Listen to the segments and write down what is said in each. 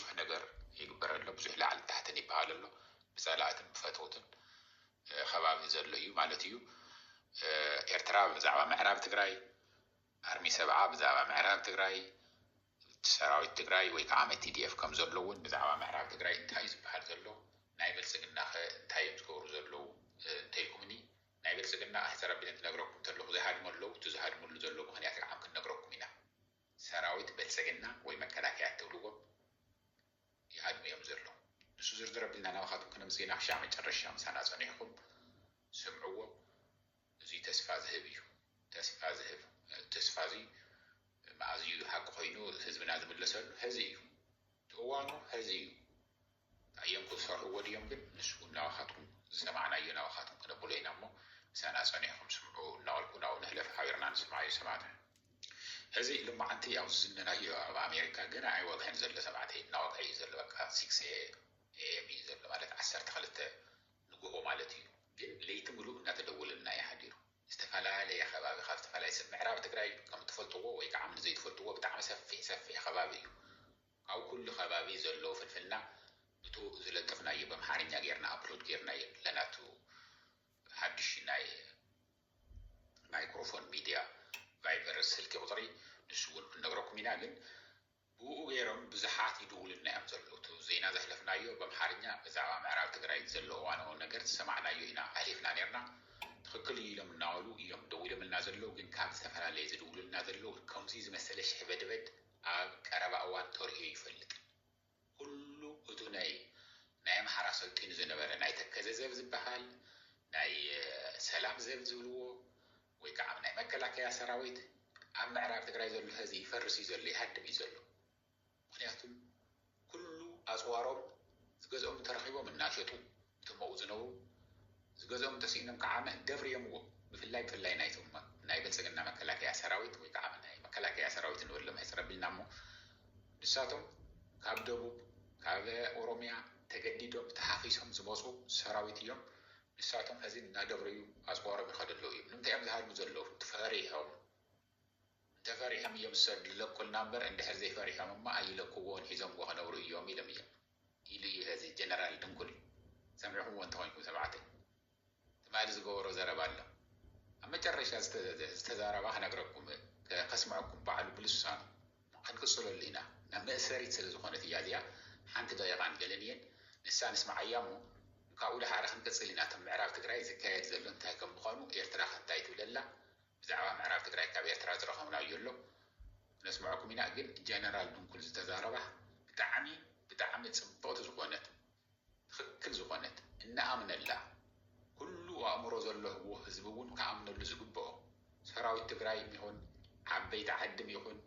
ብዙሕ ነገር ይግበር ኣሎ፣ ብዙሕ ላዕልን ታሕትን ይበሃል ኣሎ፣ ብጸላእትን ብፈተውትን ከባቢ ዘሎ እዩ ማለት እዩ። ኤርትራ ብዛዕባ ምዕራብ ትግራይ፣ ኣርሚ ሰብዓ ብዛዕባ ምዕራብ ትግራይ፣ ሰራዊት ትግራይ ወይ ከዓ መ ቲዲኤፍ ከም ዘሎ እውን ብዛዕባ ምዕራብ ትግራይ እንታይ እዩ ዝበሃል ዘሎ፣ ናይ ብልጽግናኸ እንታይ እዮም ዝገብሩ ዘለዉ እንተኢልኩምኒ፣ ናይ ብልጽግና ኣሕተረቢነ ትነግረኩም ተለኹ ዘይሃድሙ ኣለዉ፣ እቲ ዝሃድሙሉ ዘሎ ምኽንያት ከዓ ክንነግረኩም ኢና። ሰራዊት በልፀግና ወይ መከላከያ እትብልዎ ይሃድሙ እዮም ዘለዉ ንሱ ዝርዝር ኣቢልና ናባኻትኩም ክነምፅእ ኢና ክሻዕ መጨረሻ ምሳና ፀኒሕኹም ስምዕዎ እዙይ ተስፋ ዝህብ እዩ ተስፋ ዝህብ ተስፋ እዙይ መኣዝ እዩ ሃቂ ኮይኑ ህዝብና ዝምለሰሉ ሀዚ እዩ እቲ እዋኑ ሀዚ እዩ ኣዮም ክሰርሕዎ ድዮም ግን ንሱ ውን ናባኻትኩም ዝሰማዕናዮ ናባኻትኩም ክነብሎ ኢና እሞ ምሳና ጸኒሕኩም ስምዑ እናበልኩ ናብኡ ንሕለፍ ሓቢርና ንስማዓዮ ሰማዕተ። ሕዚ ሎማዓንቲ ኣብ ዝዝነናዮ ኣብ ኣሜሪካ ገና ኣይወግሐን ዘሎ ተባዕተይ እናወግሐ እዩ ዘሎ በቃ six AM እዩ ዘሎ ማለት ዓሰርተ ክልተ ንጉሆ ማለት እዩ ግን ለይቲ ምሉእ እናተደወለልና እዩ ሓዲሩ ዝተፋላለየ ከባቢ ካብ ዝተፋላለየ ሰብ ምዕራብ ትግራይ ከም ትፈልጥዎ ወይ ካዓ ን ዘይትፈልጥዎ ብጣዕሚ ሰፊሕ ሰፊሕ ከባቢ እዩ ኣብ ኩሉ ከባቢ ዘሎ ፍልፍልና እቱ ዝለጠፍናዮ በምሓርኛ ገይርና ኣፕሎድ ገይርናዮ ኣለና እቱ ሓዱሽ ናይ ማይክሮፎን ሚድያ ቫይበር ስልኪ ቁፅሪ ንሱ እውን ክንነግረኩም ኢና ግን ብኡ ገይሮም ብዙሓት ይድውሉልና እዮም ዘለዉ እቱ ዜና ዘሕለፍናዮ በምሓርኛ ብዛዕባ ምዕራብ ትግራይ ዘሎ እዋናዊ ነገር ዝሰማዕናዮ ኢና ኣሕሊፍና ነይርና ትኽክል እዩ ኢሎም እናበሉ እዮም ደዊሎምልና ዘለዉ ግን ካብ ዝተፈላለየ ዝድውሉልና ዘለዉ ከምዙይ ዝመሰለ ሽሕበድበድ ኣብ ቀረባ እዋን ተርእዮ ኣይፈልጥን ኩሉ እቱ ናይ ናይ ኣምሓራ ሰልጢኑ ዝነበረ ናይ ተከዘ ዘብ ዝባሃል ናይ ሰላም ዘብ ዝብልዎ ወይ ካዓ ናይ መከላከያ ሰራዊት ኣብ ምዕራብ ትግራይ ዘሎ ሀዚ ይፈርስ እዩ ዘሎ ይሃድም እዩ ዘሎ ምክንያቱም ኩሉ ኣጽዋሮም ዝገዝኦም እንተረኺቦም እናሸጡ እቶም ኣብኡ ዝነብሩ ዝገዝኦም እንተስኢኖም ከዓ መህደብር የምዎ ብፍላይ ብፍላይ ናይቶም ናይ ብልጽግና መከላከያ ሰራዊት ወይ ከዓ ናይ መከላከያ ሰራዊት ንበሎም ሕጽር ኣቢልና እሞ ንሳቶም ካብ ደቡብ ካብ ኦሮሚያ ተገዲዶም ተሓኺሶም ዝመጹ ሰራዊት እዮም ንሳቶም ሕዚ እናደብረዩ ኣጽዋሮም ይኸዱ ኣለዉ እዮም ንምንታይ እዮም ዝሃድሙ ዘለዉ ፈሪሖም እንተፈሪሖም እዮም ሰብ ልለቁልና እምበር እንድሕር ዘይፈሪሖም እማ ኣይለኩዎን ሒዞምዎ ክነብሩ እዮም ኢሎም እዮም ኢሉ እዩ ሀዚ ጀነራል ድንኩል ሰሚዕኩምዎ እንተኮይንኩም ተባዕትይ ትማሊ ዝገበሮ ዘረባ ኣሎ ኣብ መጨረሻ ዝተዛረባ ክነግረኩም ከስምዐኩም ባዕሉ ብልሳኑ ክንቅፅለሉ ኢና ናብ መእሰሪት ስለ ዝኾነት እያ እዚኣ ሓንቲ ደቂቃን ገለን እየን ንሳ ንስምዓያ እሞ ካብኡ ድሓረ ክንቅፅል ኢና እቶም ምዕራብ ትግራይ ዝካየድ ዘሎ እንታይ ከም ምዃኑ ኤርትራኸ እንታይ ትብለላ ብዛዕባ ምዕራብ ትግራይ ካብ ኤርትራ ዝረኸብናዮ ኣሎ ክነስመዐኩም ኢና ግን ጀነራል ድንኩል ዝተዛረባ ብጣዕሚ ብጣዕሚ ጽብቕቲ ዝኾነት ትኽክል ዝኾነት እንኣምነላ ኩሉ ኣእምሮ ዘለህዎ ህዝቢ እውን ክኣምነሉ ዝግብኦ ሰራዊት ትግራይም ይኹን ዓበይቲ ዓድም ይኹን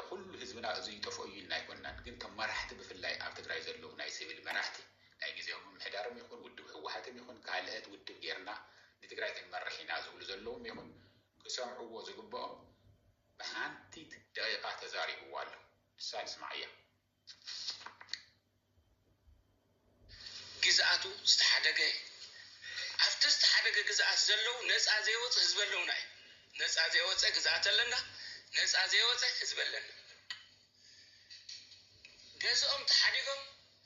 ኹሉ ህዝብና እዙይ ይጠፍኦ እዩ ኢልና ኣይኮናን ግን ከም መራሕቲ ብፍላይ ኣብ ትግራይ ዘለዉ ናይ ሲቪል መራሕቲ ናይ ግዝያዊ ምምሕዳርም ይኹን ውድብ ህወሓትም ይኹን ካልእት ውድብ ገይርና ንትግራይ ክንመርሕ ኢና ዝብሉ ዘለዉም ይኹን ክሰምዕዎ ዝግበኦም ብሓንቲት ደቂቃ ተዛሪብዋ ኣሎ ንሳ ንስማዓያ። ግዝኣቱ ዝተሓደገ እዩ። ኣብቲ ዝተሓደገ ግዝኣት ዘለዉ ነጻ ዘይወጸ ህዝቢ ኣለዉና እዩ። ነጻ ዘይወጸ ግዝኣት ኣለና፣ ነጻ ዘይወጸ ህዝቢ ኣለና። ገዝኦም ተሓዲጎም፣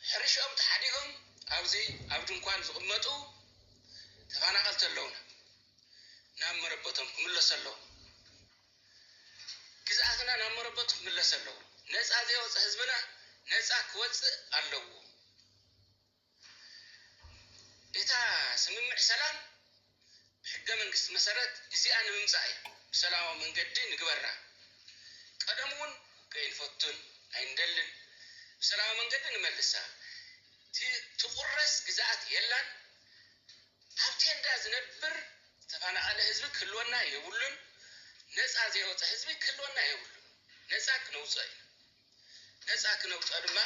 ሕርሽኦም ተሓዲጎም ኣብዚ ኣብ ድንኳን ዝቕመጡ ተፈናቐልቲ ኣለዉና። ናብ መረበቶም ክምለሱ ኣለዎም። ግዝኣትና ናብ መረበቱ ክምለስ ኣለዎ። ነጻ ዘይወጸ ህዝብና ነጻ ክወጽእ ኣለዎ። እታ ስምምዕ ሰላም ብሕገ መንግስቲ መሰረት ግዜኣ ንምምጻእ እያ። ብሰላማዊ መንገዲ ንግበራ። ቀደሙ ውን ውግእ ኣይንፈቱን ኣይንደልን። ብሰላማዊ መንገዲ ንመልሳ። ትቁረስ ግዝኣት የላን። ኣብ ቴንዳ ዝነብር ዝተፋናቀለ ህዝቢ ክህልወና የብሉን ነጻ ዘይወጸ ህዝቢ ክህልወና የብሉን ነጻ ክነውጾ ኢና ነጻ ክነውጾ ድማ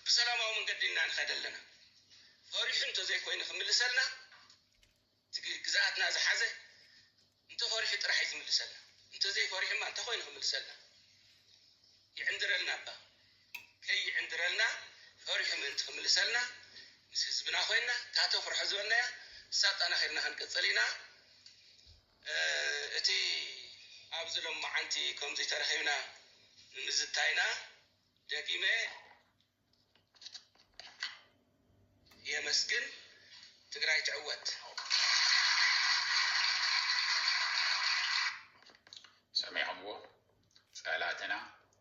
ብሰላማዊ መንገዲ እና ንከድ ኣለና ፈሪሑ እንተዘይኮይኑ ክምልሰልና እቲ ግዝኣትና ዝሓዘ እንተፈሪሑ ጥራሕ እዩ ዝምልሰልና እንተዘይፈሪሑማ እንታይ ኮይኑ ክምልሰልና ይዕንድረልና እባ ከይዕንድረልና ፈሪሑ ምእንቲ ክምልሰልና ምስ ህዝብና ኮይና እታ ተፍርሖ ዝበልናያ ንሳ ኣጠናኺርና ክንቅፅል ኢና እቲ ኣብዚ ሎማዓንቲ ከምዙይ ተረኺብና ንምዝታይና ደጊመ የመስግን ትግራይ ትዕወት። ሰሚዕኹምዎ ፀላትና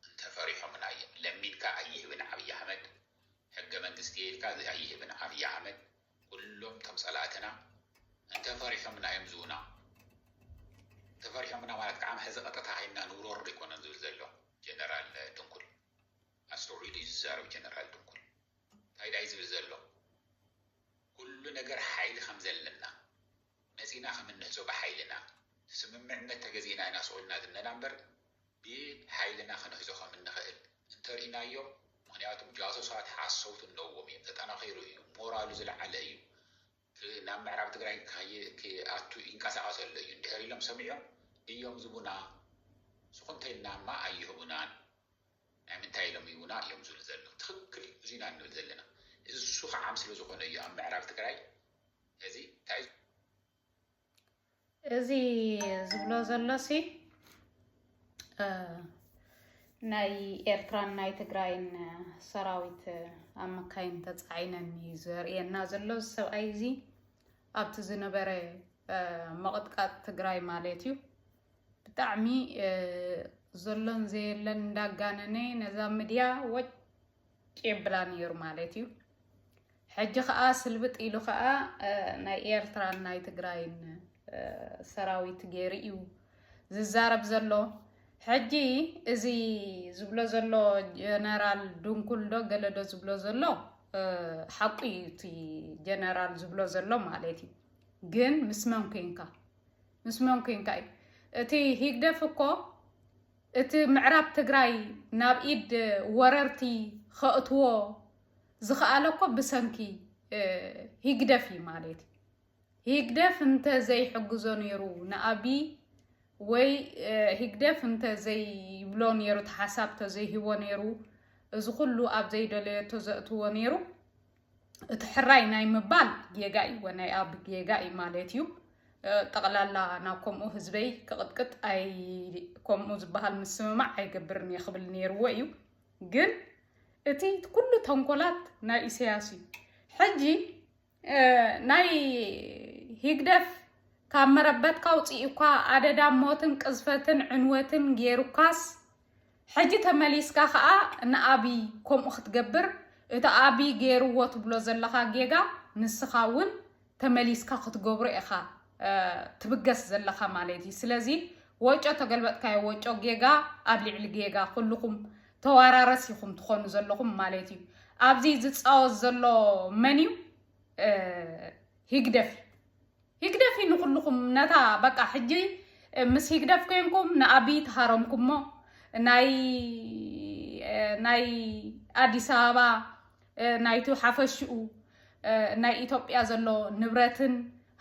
እንተፈሪሖምና እዮም ለሚንካ ኣይህብን ዓብይ ኣሕመድ ሕገ መንግስቲ ኢልካ ኣይህብን ዓብይ ኣሕመድ ኩሎም እቶም ፀላእትና እንተፈሪሖምና እዮም ዝውና እንተፈሪሖምና ማለት ከዓ ሕዚ ቀጥታ ሂና ንውረሩ ዘይኮነን ዝብል ዘሎ ጀነራል ድንኩል ኣስተውዒሉ እዩ ዝዛረብ ጀነራል ድንኩል ታይ ዳዩ ዝብል ዘሎ ኩሉ ነገር ሓይሊ ከምዘለና መጺና ከምንሕዞ ብሓይልና ስምምዕነት ተገዚእና ኢና ስቁልና ዝነና እምበር ብሓይልና ክንሕዞ ከምንኽእል እንተርኢናዮም ምክንያቱም ጃሶሳት ሓሰውቲ ኣለዎም እዮም ተጠናኺሩ እዩ ሞራሉ ዝለዓለ እዩ ናብ ምዕራብ ትግራይ ክኣቱ ይንቀሳቐስ ኣሎ እዩ እንድሕር ኢሎም ሰሚዖም እዮም ዝቡና ስኹምተይልና እማ ኣይህቡናን ናይ ምንታይ ኢሎም ይቡና እዮም ዝብሉ ዘለዉ ትኽክል እዩ እዙይ ኢና ንብል ዘለና እሱ ከዓም ስለ ዝኾነ እዩ ኣብ ምዕራብ ትግራይ እዚ እንታይ እዚ ዝብሎ ዘሎሲ ናይ ኤርትራን ናይ ትግራይን ሰራዊት ኣብ መካይን ተፃዒነን እዩ ዘርእየና ዘሎ እዚ ሰብኣይ እዚ ኣብቲ ዝነበረ መቕጥቃጥ ትግራይ ማለት እዩ ብጣዕሚ ዘሎን ዘየለን እንዳጋነነ ነዛ ምድያ ወጭ ቄብላ ነይሩ ማለት እዩ። ሕጂ ከዓ ስልብጥ ኢሉ ከዓ ናይ ኤርትራን ናይ ትግራይን ሰራዊት ገይሩ እዩ ዝዛረብ ዘሎ። ሕጂ እዚ ዝብሎ ዘሎ ጀነራል ድንኩል ዶ ገለ ዶ ዝብሎ ዘሎ ሓቁ እዩ እቲ ጀነራል ዝብሎ ዘሎ ማለት እዩ። ግን ምስ መን ኮንካ ምስ መን ኮንካ እዩ እቲ ሂግደፍ እኮ እቲ ምዕራብ ትግራይ ናብ ኢድ ወረርቲ ከእትዎ ዝኸኣለ እኮ ብሰንኪ ሂግደፍ እዩ ማለት እዩ። ሂግደፍ እንተ ዘይሕግዞ ነይሩ ንኣብይ ወይ ሂግደፍ እንተ ዘይብሎ ነይሩ ተሓሳብ ተዘይሂቦ ነይሩ እዚ ኩሉ ኣብ ዘይደለየቶ ዘእትዎ ነይሩ እቲ ሕራይ ናይ ምባል ጌጋ እዩ ወናይ ኣብ ጌጋ እዩ ማለት እዩ ጠቕላላ ናብ ከምኡ ህዝበይ ክቕጥቅጥ ኣይ ከምኡ ዝበሃል ምስምማዕ ኣይገብርን እየ ክብል ነይርዎ እዩ ግን እቲ ኩሉ ተንኮላት ናይ ኢሳያስ እዩ ሕጂ ናይ ሂግደፍ ካብ መረበትካ ውፅእ እኳ ኣደዳ ሞትን ቅዝፈትን ዕንወትን ገይሩካስ ሕጂ ተመሊስካ ከኣ ንኣብይ ከምኡ ክትገብር እቲ ኣብይ ገይርዎ ትብሎ ዘለኻ ጌጋ ንስኻ እውን ተመሊስካ ክትገብሮ ኢኻ ትብገስ ዘለኻ ማለት እዩ ስለዚ ወጮ ተገልበጥካዮ ወጮ ጌጋ ኣብ ልዕሊ ጌጋ ኩልኹም ተዋራረስ ኢኹም ትኾኑ ዘለኹም ማለት እዩ ኣብዚ ዝፃወት ዘሎ መን እዩ ህግደፍ ህግደፍ እዩ ንኹልኹም ነታ በቃ ሕጂ ምስ ህግደፍ ኮይንኩም ንኣብይ ተሃረምኩሞ ናይ ናይ ኣዲስ ኣበባ ናይቱ ሓፈሽኡ ናይ ኢትዮጵያ ዘሎ ንብረትን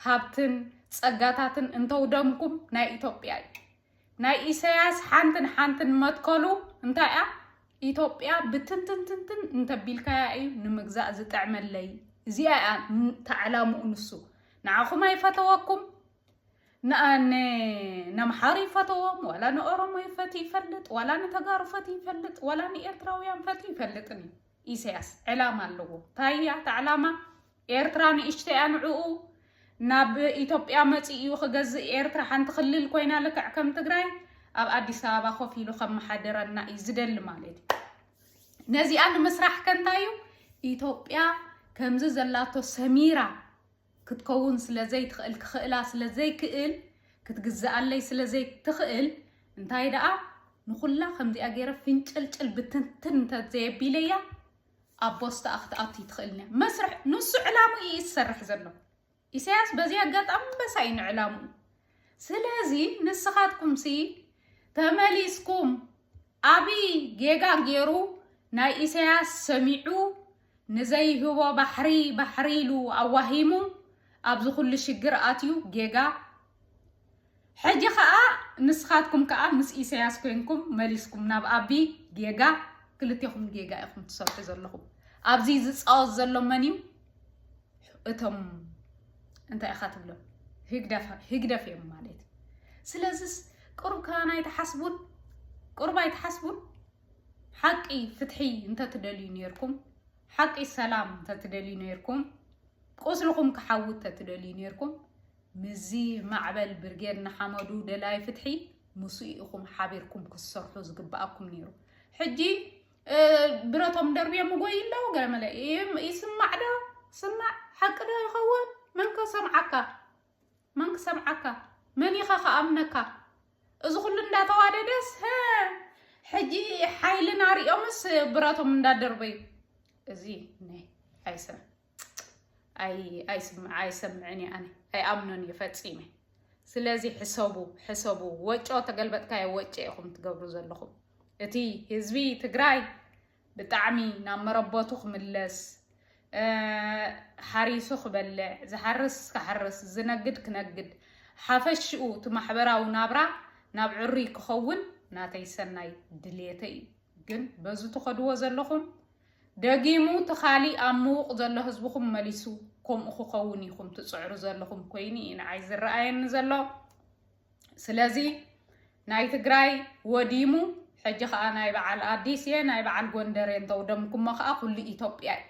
ሃብትን ጸጋታትን እንተውደምኩም ናይ ኢትዮጵያ እዩ ናይ ኢሰያስ ሓንትን ሓንትን መትከሉ እንታይ እያ? ኢትዮጵያ ብትንትንትንትን እንተቢልካያ እዩ ንምግዛእ ዝጥዕመለይ እዚኣ እያ ተዕላምኡ ንሱ ንዓኹም ኣይፈተወኩም ነምሓሩ ይፈተዎም ዋላ ንኦሮሞ ይፈት ይፈልጥ ዋላ ንተጋሩ ፈት ይፈልጥ ዋላ ንኤርትራውያን ፈት ይፈልጥን እዩ ኢሳያስ ዕላማ ኣለዎ ታያ ተዕላማ ኤርትራ ንእሽተይ እያ ንዑኡ ናብ ኢትዮጵያ መጺኡ እዩ ክገዝእ ኤርትራ ሓንቲ ክልል ኮይና ልክዕ ከም ትግራይ ኣብ ኣዲስ ኣበባ ኮፍ ኢሉ ከመሓደረና እዩ ዝደሊ ማለት እዩ ነዚኣ ንምስራሕ ከንታይ እዩ ኢትዮጵያ ከምዚ ዘላቶ ሰሚራ ክትከውን ስለ ዘይትኽእል ክኽእላ ስለ ዘይክእል ክትግዝኣለይ ስለ ዘይትኽእል እንታይ ደኣ ንኹላ ከምዚኣ ገይረ ፍንጭልጭል ብትንትን እንተዘየቢለያ ኣብ ቦስተኣ ክትኣቱ ይትኽእልንያ መስርሕ ንሱ ዕላሙ እዩ ዝሰርሕ ዘሎ ኢሳያስ በዚ ኣጋጣሚ በሳ እዩ ንዕላሙ ስለዚ ንስኻትኩም ሲ ተመሊስኩም ኣብይ ጌጋ ገይሩ ናይ ኢሳያስ ሰሚዑ ንዘይህቦ ባሕሪ ባሕሪ ኢሉ ኣዋሂሙ ኣብዚ ኩሉ ሽግር ኣትዩ ጌጋ ሕጂ ከኣ ንስካትኩም ከኣ ምስ ኢሰያስ ኮንኩም መሊስኩም ናብ ኣቢ ጌጋ ክልቴኹም ጌጋ ኢኹም ትሰርሑ ዘለኹም ኣብዚ ዝጻወት ዘሎ መን እዩ እቶም እንታይ ኢኻ ትብሎ ህግደፍ እዮም ማለት ስለዚስ ቅሩብ ከማን ኣይትሓስቡን ቅሩብ ኣይትሓስቡን ሓቂ ፍትሒ እንተትደልዩ ነርኩም ሓቂ ሰላም እንተትደልዩ ነርኩም ቁስልኹም ክሓዊ እንተትደልዩ ነርኩም ምስዚ ማዕበል ብርጌድ ንሓመዱ ደላይ ፍትሒ ምስኡ ኢኹም ሓቢርኩም ክትሰርሑ ዝግብኣኩም ነይሩ። ሕጂ ብረቶም ደርብዮም ይጎይ ኣለዉ ገለ መለ ይስማዕ ዶ ስማዕ ሓቂ ዶ ይኸውን? መን ከሰምዓካ መን ክሰምዓካ መን ኢኻ ከኣምነካ? እዚ ኩሉ እንዳተዋደደስ ሕጂ ሓይልና ሪኦምስ ብረቶም እንዳደርበዩ እዚ ናይ ኣይሰ ኣይሰምዕን እየ ኣነ ኣይኣምኖን እየ ፈፂመ ስለዚ ሕሰቡ ሕሰቡ ወጮ ተገልበጥካዮ ወጮ ኢኹም ትገብሩ ዘለኹም እቲ ህዝቢ ትግራይ ብጣዕሚ ናብ መረቦቱ ክምለስ ሓሪሱ ክበልዕ ዝሓርስ ክሓርስ ዝነግድ ክነግድ ሓፈሽኡ እቲ ማሕበራዊ ናብራ ናብ ዕሩይ ክኸውን ናተይ ሰናይ ድሌተይ እዩ ግን በዚ ትኸድዎ ዘለኹም ደጊሙ ትካሊ ኣብ ምዉቕ ዘሎ ህዝብኹም መሊሱ ከምኡ ክኸውን ኢኹም ትጽዕሩ ዘለኹም ኮይኑ እዩ ንዓይ ዝረኣየኒ ዘሎ ስለዚ ናይ ትግራይ ወዲሙ ሕጂ ከዓ ናይ በዓል ኣዲስ እየ ናይ በዓል ጎንደር እየ እንተውደምኩሞ ከዓ ኩሉ ኢትዮጵያ እዩ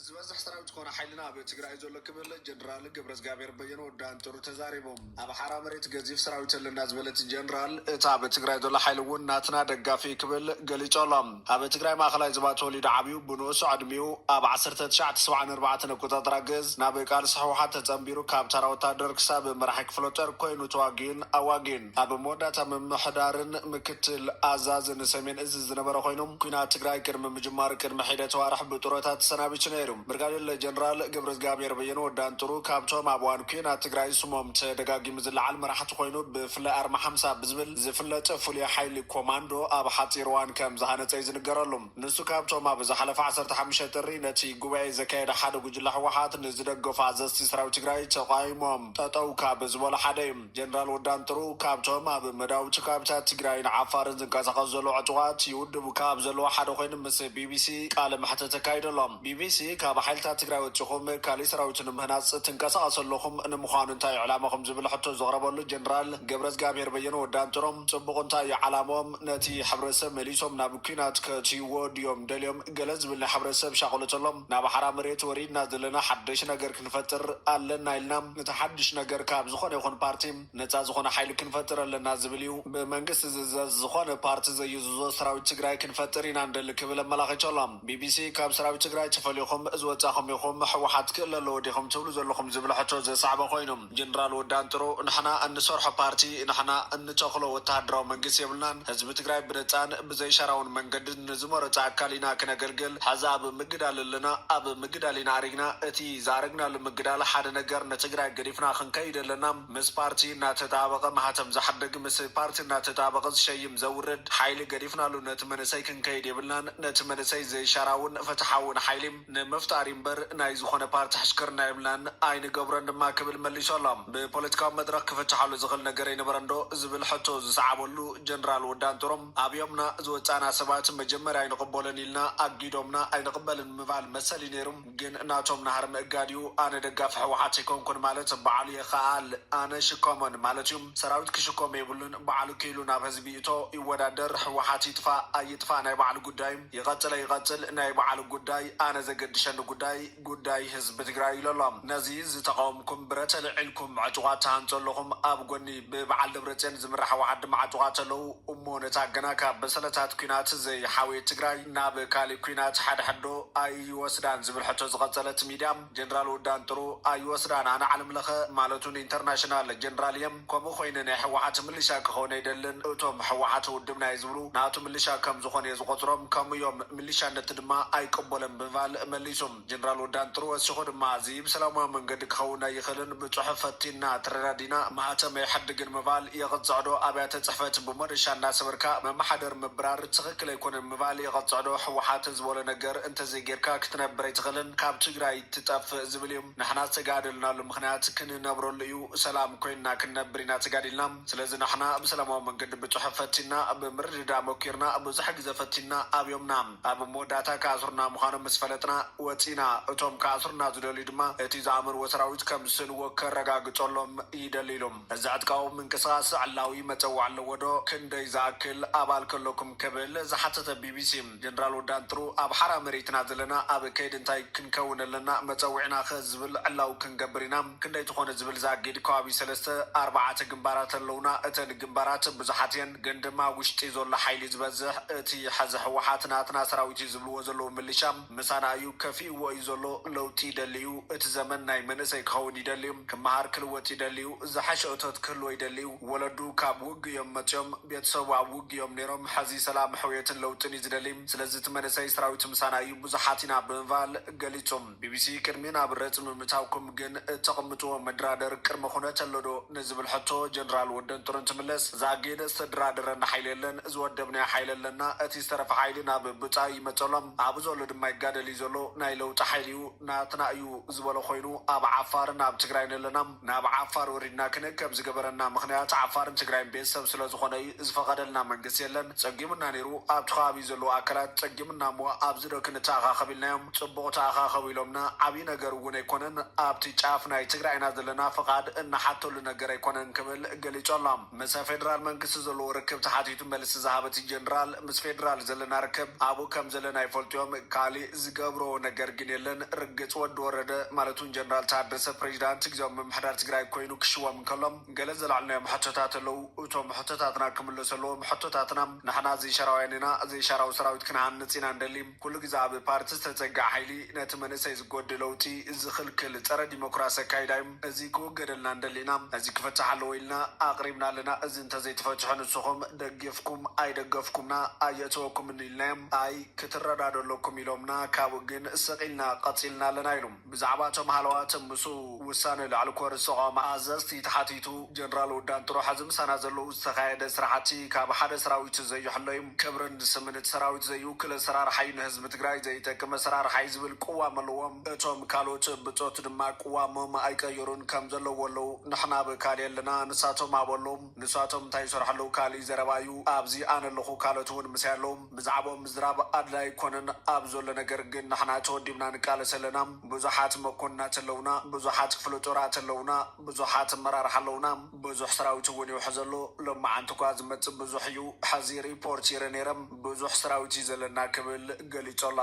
ዝበዝሕ ሰራዊት ኮነ ሓይልና ኣብ ትግራይ እዩ ዘሎ ክብል ጀነራል ገብረዝጋብሔር በየነ ወዲ ኣንጥሩ ተዛሪቦም። ኣብ ሓራ መሬት ገዚፍ ሰራዊት ኣለና ዝበለት ጀነራል እቲ ኣብ ትግራይ ዘሎ ሓይሊ እውን ናትና ደጋፊ እዩ ክብል ገሊፁ ኣሎ። ኣብ ትግራይ ማእኸላይ ዝባ ተወሊዱ ዓብዩ ብንኡስ ዕድሚኡ ኣብ ዓሰርተ ትሽዓተ ሰብዓን ኣርባዕተን ኣቆፃፅራ ግእዝ ናብ ቃልሲ ህወሓት ተፀምቢሩ ካብ ታራ ወታደር ክሳብ መራሒ ክፍለጦር ኮይኑ ተዋጊኡን ኣዋጊኡን። ኣብ መወዳእታ ምምሕዳርን ምክትል ኣዛዝን ሰሜን እዝ ዝነበረ ኮይኑ፣ ኲናት ትግራይ ቅድሚ ምጅማሩ ቅድሚ ሒደት ኣዋርሕ ብጡረታ ተሰናቢቱ ነይሩ። ብርጋዴር ጀነራል ገብረዝግኣብሄር በየነ፣ ወዲ ኣንጥሩ፣ ካብቶም ኣብ እዋን ኲናት ትግራይ ስሞም ተደጋጊሙ ዝለዓል መራሕቲ ኮይኑ፣ ብፍላይ ኣርማ ሓምሳ ብዝብል ዝፍለጥ ፍሉይ ሓይሊ ኮማንዶ ኣብ ሓፂር እዋን ከም ዝሃነፀ እዩ ዝንገረሉ። ንሱ ካብቶም ኣብ ዝሓለፈ ዓሰርተ ሓሙሽተ ጥሪ ነቲ ጉባኤ ዘካየደ ሓደ ጉጅለ ህወሓት ንዝደገፉ ኣዘዝቲ ሰራዊት ትግራይ ተቋይሞም ጠጠው ካብ ዝበሉ ሓደ እዩ። ጀነራል ወዲ ኣንጥሩ ካብቶም ኣብ መዳውብ ጭካብታት ትግራይን ዓፋርን ዝንቀሳቐሱ ዘለዉ ዕጡቓት ይውድቡ ካብ ዘለዉ ሓደ ኮይኑ ምስ ቢቢሲ ቃለ መሕትት ተካይደሎም። ቢቢሲ፣ ካብ ሓይልታት ትግራይ ወጺኹም ካሊእ ሰራዊት ንምህናጽ ትንቀሳቐሱ ኣለኹም፣ ንምዃኑ እንታይ'ዩ ዕላማኹም ዝብል ሕቶ ዘቕረበሉ ጀነራል ገብረዝጋብሄር በየነ ወዲ ኣንጥሩ፣ ጽቡቕ እንታይ'ዩ ዓላምኦም፣ ነቲ ሕብረተሰብ መሊሶም ናብ ኲናት ከእትይዎ ድዮም ደልዮም? ገለ ዝብል ናይ ሕብረተሰብ ሻቕሎት ኣሎ። ናብ ሓራ መሬት ወሪድና ዘለና ሓደሽ ነገር ክንፈጥር ኣለና ኢልና እቲ ሓድሽ ነገር ካብ ዝኾነ ይኹን ፓርቲ ነፃ ዝኾነ ሓይሊ ክንፈጥር ኣለና ዝብል እዩ። ብመንግስቲ ዝእዘዝ ዝኾነ ፓርቲ ዘይእዝዞ ሰራዊት ትግራይ ክንፈጥር ኢና ንደሊ ክብል ኣመላኺቱ ኣሎ። ቢቢሲ፣ ካብ ሰራዊት ትግራይ ተፈሊኹም ዝወፃኹም ኢኹም፣ ህወሓት ክእለ ኣለዎ ዲኹም ትብሉ ዘለኹም ዝብል ሕቶ ዘስዓበ ኮይኑ፣ ጀነራል ወዲ ኣንጥሩ ንሕና እንሰርሖ ፓርቲ ንሕና እንተኽሎ ወተሃደራዊ መንግስቲ የብልናን ህዝቢ ትግራይ ብነፃን ብዘይሻራውን መንገዲ ንዝመረፆ ኣካል ኢና ክነገልግል ሐዚ ኣብ ምግዳል ኣለና ኣብ ምግዳል ኢና ኣሪግና እቲ ዝኣረግናሉ ምግዳል ሐደ ነገር ንትግራይ ገዲፍና ክንከይድ ኣለና ምስ ፓርቲ እናተጣበቐ ማህተም ዘሕድግ ምስ ፓርቲ እናተጣበቐ ዝሸይም ዘውርድ ሐይሊ ገዲፍናሉ ነቲ መንእሰይ ክንከይድ የብልናን ነቲ መንእሰይ ዘይሻራውን ፍትሓውን ሐይሊ ንምፍጣር እምበር ናይ ዝኾነ ፓርቲ ሕሽክርና የብልናን ኣይንገብሮን ድማ ክብል መሊሱ ኣሎ። ብፖለቲካዊ መድረኽ ክፍታሓሉ ዝኽእል ነገር ኣይነበረን ዶ ዝብል ሕቶ ዝሰዓበሉ ጀነራል ወዲ ኣንጠሮ፣ ኣብዮምና ዝወጻእና ሰባት መጀመርያ ኣይንቕበሎን ኢልና ኣጊዶምና ኣይንቕበልን ምባል መሰል እዩ ነይሩ። ግን ናቶም ናህሪ ምእጋድ እዩ። ኣነ ደጋፊ ህወሓት ኣይኮንኩን ማለት ባዕሉ የኸኣል ኣነ ሽከሞን ማለት እዩ። ሰራዊት ክሽከሞ የብሉን ባዕሉ ክኢሉ ናብ ህዝቢ ይእቶ ይወዳደር ህወሓት ይጥፋእ ኣይጥፋእ ናይ ባዕሉ ጉዳይ እዩ። ይቐፅለ ይቐፅል ናይ ባዕሉ ጉዳይ ኣነ ዘገድሸኒ ጉዳይ ጉዳይ ህዝቢ ትግራይ ኢሉ ኣሎ ነዚ ዝተቓወምኩም ብረት ኣልዒልኩም ዕጡቓት ትሃንፁ ኣለኹም ኣብ ጎኒ ብበዓል ደብረፅዮን ዝምራሕ ወዓድማ ዕጡቓት ኣለው እሞ ነታ ገና ካብ በሰለታት ኲናት ዘይሓወየት ትግራይ ናብ ካሊእ ኲናት ሓድሕድ ዶ ኣይወስዳን ዝብል ሕቶ ዝቐፀለት ሚድያ ጀነራል ውዳንጥሩ ኣይወስዳን ኣነ ዓለምለኸ ማለቱ ንኢንተርናሽናል ጀነራል እየ ከምኡ ኮይነ ናይ ሕዋዓት ምልሻ ክከውን ኣይደልን እቶም ሕዋዓት ውድብና እየ ዝብሉ ናቱ ምልሻ ከም ዝኮነ እየ ዝቆፅሮም ከምኡ እዮም ምልሻነት ድማ ኣይቅቦለን ብምባል መሊሱ ጀነራል ወዳን ጥሩ ወሲኩ ድማ እዚ ብሰላማዊ መንገዲ ክከውን ኣይክልን ብፁሑፍ ፈቲንና ተረዳዲና ማህተም ኣይሓድግን ምባል የቅፅዕዶ ኣብያተ ፅሕፈት ብሞደሻ እናሰበርካ መማሓደር ምብራር ትክክል ኣይኮነን ምባል የቅፅዕዶ ሕዋዓት ዝበሎ ነገር እንተዘይገይርካ ክትነብር ኣይትክልን ካብ ትግራይ ትጠፍእ ዝብል እዩ ንሕና ዝተጋደልናሉ ምኽንያት ክንነብረሉ እዩ ሰላም ኮይንና ክንነብር ኢና ተጋዲልና ስለዚ ንሕና ብሰላማዊ መንገዲ ብጽሑፍ ፈቲንና ብምርድዳእ መኪርና ብዙሕ ግዘ ፈቲንና ኣብዮምና ኣብ መወዳእታ ክኣስሩና ምዃኖም ምስ ፈለጥና ወጺእና እቶም ክኣስሩና ዝደልዩ ድማ እቲ ዝኣመንዎ ሰራዊት ከም ዝስእንዎ ከረጋግጸሎም ይደሊ ኢሉ እዚ ዕጥቃዊ ምንቅስቓስ ዕላዊ መጸውዕ ኣለዎ ዶ ክንደይ ዝኣክል ኣባል ከለኩም ክብል ዝሓተተ ቢቢሲ ጀነራል ወዲ ኣንጥሩ ኣብ ሓራ መሬት ኢና ዘለና ኣብ ከይዲ እንታይ ክንከውን ኣለና መፀዊዕና ከ ዝብል ዕላዊ ክንገብር ኢና ክንደይ ትኾነ ዝብል ዛጊድ ከባቢ ሰለስተ ኣርባዓተ ግንባራት ኣለውና እተን ግንባራት ብዙሓት እየን ግን ድማ ውሽጢ ዞሎ ሓይሊ ዝበዝሕ እቲ ሐዚ ሕወሓት ናትና ሰራዊት እዩ ዝብልዎ ዘለው ምልሻ ምሳና እዩ ከፊእዎ እዩ ዞሎ ለውጢ ይደሊ እዩ እቲ ዘመን ናይ መንእሰይ ክኸውን ይደሊ እዩ ክመሃር ክልወጥ ይደሊ እዩ ዝሐሸ እቶት ክህልዎ ይደሊ እዩ ወለዱ ካብ ውግ እዮም መጽዮም ቤተሰቡ ኣብ ውግ እዮም ነይሮም ሐዚ ሰላም ሕውየትን ለውጥን እዩ ዝደሊ ስለዚ እቲ መንእሰይ ስራዊት ምሳና እዩ ብዙሓት ኢና ብምባል ገሊጹ። ቢቢሲ፣ ቅድሚ ናብ ረጽሚ ምእታውኩም ግን እተቕምጥዎ መድራደር ቅድመ ኩነት ኣሎ ዶ ንዝብል ሕቶ ጀነራል ወደንጦር እንትምለስ እዛ ኣገይደ ዝተደራደረና ሓይሊ የለን ዝወደብናዮ ሓይሊ ኣለና እቲ ዝተረፈ ሓይሊ ናብ ብጻዩ ይመጽ ኣሎ ኣብኡ ዘሎ ድማ ይጋደል እዩ ዘሎ ናይ ለውጢ ሓይሊ እዩ ናትና እዩ ዝበሎ ኮይኑ ኣብ ዓፋርን ኣብ ትግራይን ኣለና ናብ ዓፋር ወሪድና ክንእከብ ዝገበረና ምኽንያት ዓፋርን ትግራይን ቤተሰብ ስለዝኾነ እዩ ዝፈቐደልና መንግስቲ የለን ፀጊሙና ነይሩ ኣብቲ ከባቢ ዘለዉ ኣካላት ፀጊሙና እሞ ኣብዚዶ ክንተኣኻኸብ ኢልናዮም ፅቡቕ ተኣኻኸቡ ኢሎምና ዓብዪ ነገር እውን ኣይኮነን ኣብቲ ጫፍ ናይ ትግራይ ኢና ዘለና ፍቓድ እንሓተሉ ነገር ኣይኮነን ክብል ገሊፁ ኣሎ። ምስ ፌደራል መንግስቲ ዘለዎ ርክብ ተሓቲቱ መልሲ ዝሃበ እቲ ጀነራል፣ ምስ ፌደራል ዘለና ርክብ ኣብኡ ከም ዘለና ይፈልጡ'ዮም፣ ካሊእ ዝገብሮ ነገር ግን የለን፣ ርግጽ ወዲ ወረደ ማለት ውን ጀነራል ታደሰ ፕሬዚዳንት ግዝያዊ ምምሕዳር ትግራይ ኮይኑ ክሽወም እንከሎ ገለ ዘልዓልናዮም ሕቶታት ኣለው፣ እቶም ሕቶታትና ክምለሱ ኣለዎም፣ ሕቶታትና ንሕና ዘይሻራውያን ኢና፣ ዘይሻራዊ ሰራዊት ክንሃንጽ ኢና ንደሊ። ኩሉ ግዘ ኣብ ፓርቲ ዝተፀገዐ ሓይሊ ነቲ መንእሰይ ዝጎድእ ለውጢ ዝኽልክል ፀረ ዲሞክራሲ ኣካይዳ እዩ። እዚ ክወገደልና ንደሊ ኢና። እዚ ክፍፃሕ ኣለዎ ኢልና ኣቕሪብና ኣለና። እዚ እንተዘይተፈፅሑ ንስኹም ደጊፍኩም ኣይደገፍኩምና ኣየእተወኩምንኢልናዮም። ኣይ ክትረዳድኡ ኣለኩም ኢሎምና ካብኡ ግን ስቕ ኢልና ቐፂልና ኣለና ኢሉ። ብዛዕባ እቶም ሃለዋት ምስ ውሳነ ላዕሊ ኮር ዝተቛወመ ኣዘዝቲ ተሓቲቱ፣ ጀነራል ውዳን ጥሩሕ ኣብዚ ምሳና ዘለዉ ዝተኻየደ ስራሕቲ ካብ ሓደ ሰራዊት ዘይሕሎ'ዩ፣ ክብርን ስምን እቲ ሰራዊት ዘይውክል ኣሰራርሓ'ዩ፣ ንህዝቢ ትግራይ ዘይጠቅም ኣሰራርሓ'ዩ ዝብል ቅዋም ኣለዎም፣ እቶም ካልኦት ብጾት ድማ ቅዋሞም ኣይቀየሩን ከም ዘለዎ ኣለዉ፣ ንሕና ኣብ ካሊእ ኣለና ንሳቶም ኣብኡ ኣለዉ፣ ንሳቶም እንታይ ይሰርሑ ኣለዉ ካሊእ ዘረባ'ዩ፣ ኣብዚ ኣነ ኣለኹ ካልኦት'ውን ምሳይ ኣለዉ። ብዛዕብኦም ምዝራብ ኣድላይ ኣይኮነን ኣብ ዘሎ ነገር ግን ንሕና ተወዲብና ንቃለስ ኣለና ብዙሓት መኮንናት ኣለውና ብዙሓት ክፍለ ጦራት ኣለውና ብዙሓት ኣመራርሓ ኣለውና ብዙሕ ሰራዊት እውን ይውሕዝ ኣሎ ሎማዓንቲ እኳ ዝመፅእ ብዙሕ እዩ ሐዚ ሪፖርት ይርኢ ነይረ ብዙሕ ሰራዊት እዩ ዘለና ክብል ገሊፁ ኣሎ።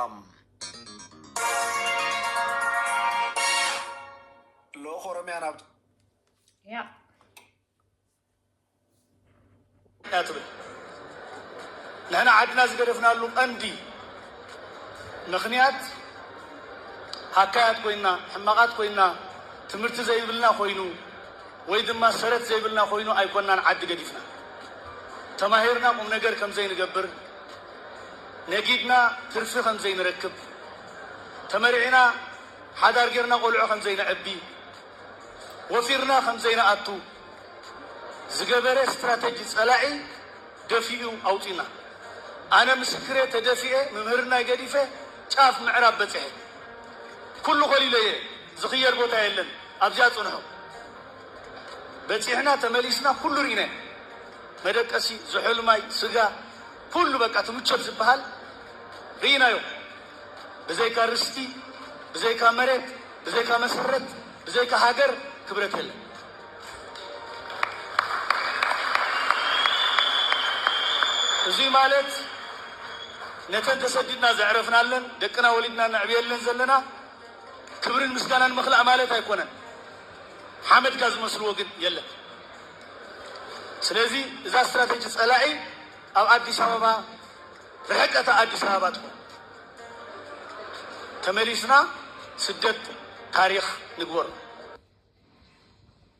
ልኡኽ ኦሮሚያ ናብ። እያ ትብል። ንሕና ዓድና ዝገደፍናሉ ቀንዲ ምኽንያት ሃካያት ኮይንና፣ ሕማቓት ኮይንና፣ ትምህርቲ ዘይብልና ኮይኑ ወይ ድማ ሰረት ዘይብልና ኮይኑ ኣይኮናን ዓዲ ገዲፍና። ተማሂርና ቁም ነገር ከም ዘይንገብር፣ ነጊድና ትርፊ ከም ዘይንረክብ፣ ተመርዒና ሓዳር ጌርና ቆልዑ ከም ዘይነዕቢ፣ ወፊርና ከም ዘይንኣቱ ዝገበረ ስትራተጂ ጸላኢ ደፊኡ ኣውጺኡና። ኣነ ምስክር'የ ተደፊኤ ምምህርናይ ገዲፈ ጫፍ ምዕራብ በጺሐ። ኩሉ ኮሊለዮ እየ ዝኽየድ ቦታ የለን ኣብዚኣ ጽንሑ። በጺሕና ተመሊስና ኩሉ ርኢናዮ መደቀሲ፣ ዝሑል ማይ፣ ስጋ ኩሉ በቃ እቲ ምቾት ዝበሃል ርኢናዮ። ብዘይካ ርስቲ ብዘይካ መሬት ብዘይካ መሰረት ብዘይካ ሃገር ክብረት የለን። እዙይ ማለት ነተን ተሰዲድና ዘዕረፍናለን ደቅና ወሊድና ነዕብየለን ዘለና ክብርን ምስጋናን ምኽላእ ማለት ኣይኮነን። ሓመድካ ዝመስልዎ ግን የለን። ስለዚ እዛ ስትራቴጂ ፀላኢ ኣብ ኣዲስ ኣበባ ርሕቀታ ኣዲስ ኣበባ ትኹን። ተመሊስና ስደት ታሪኽ ንግበሮ።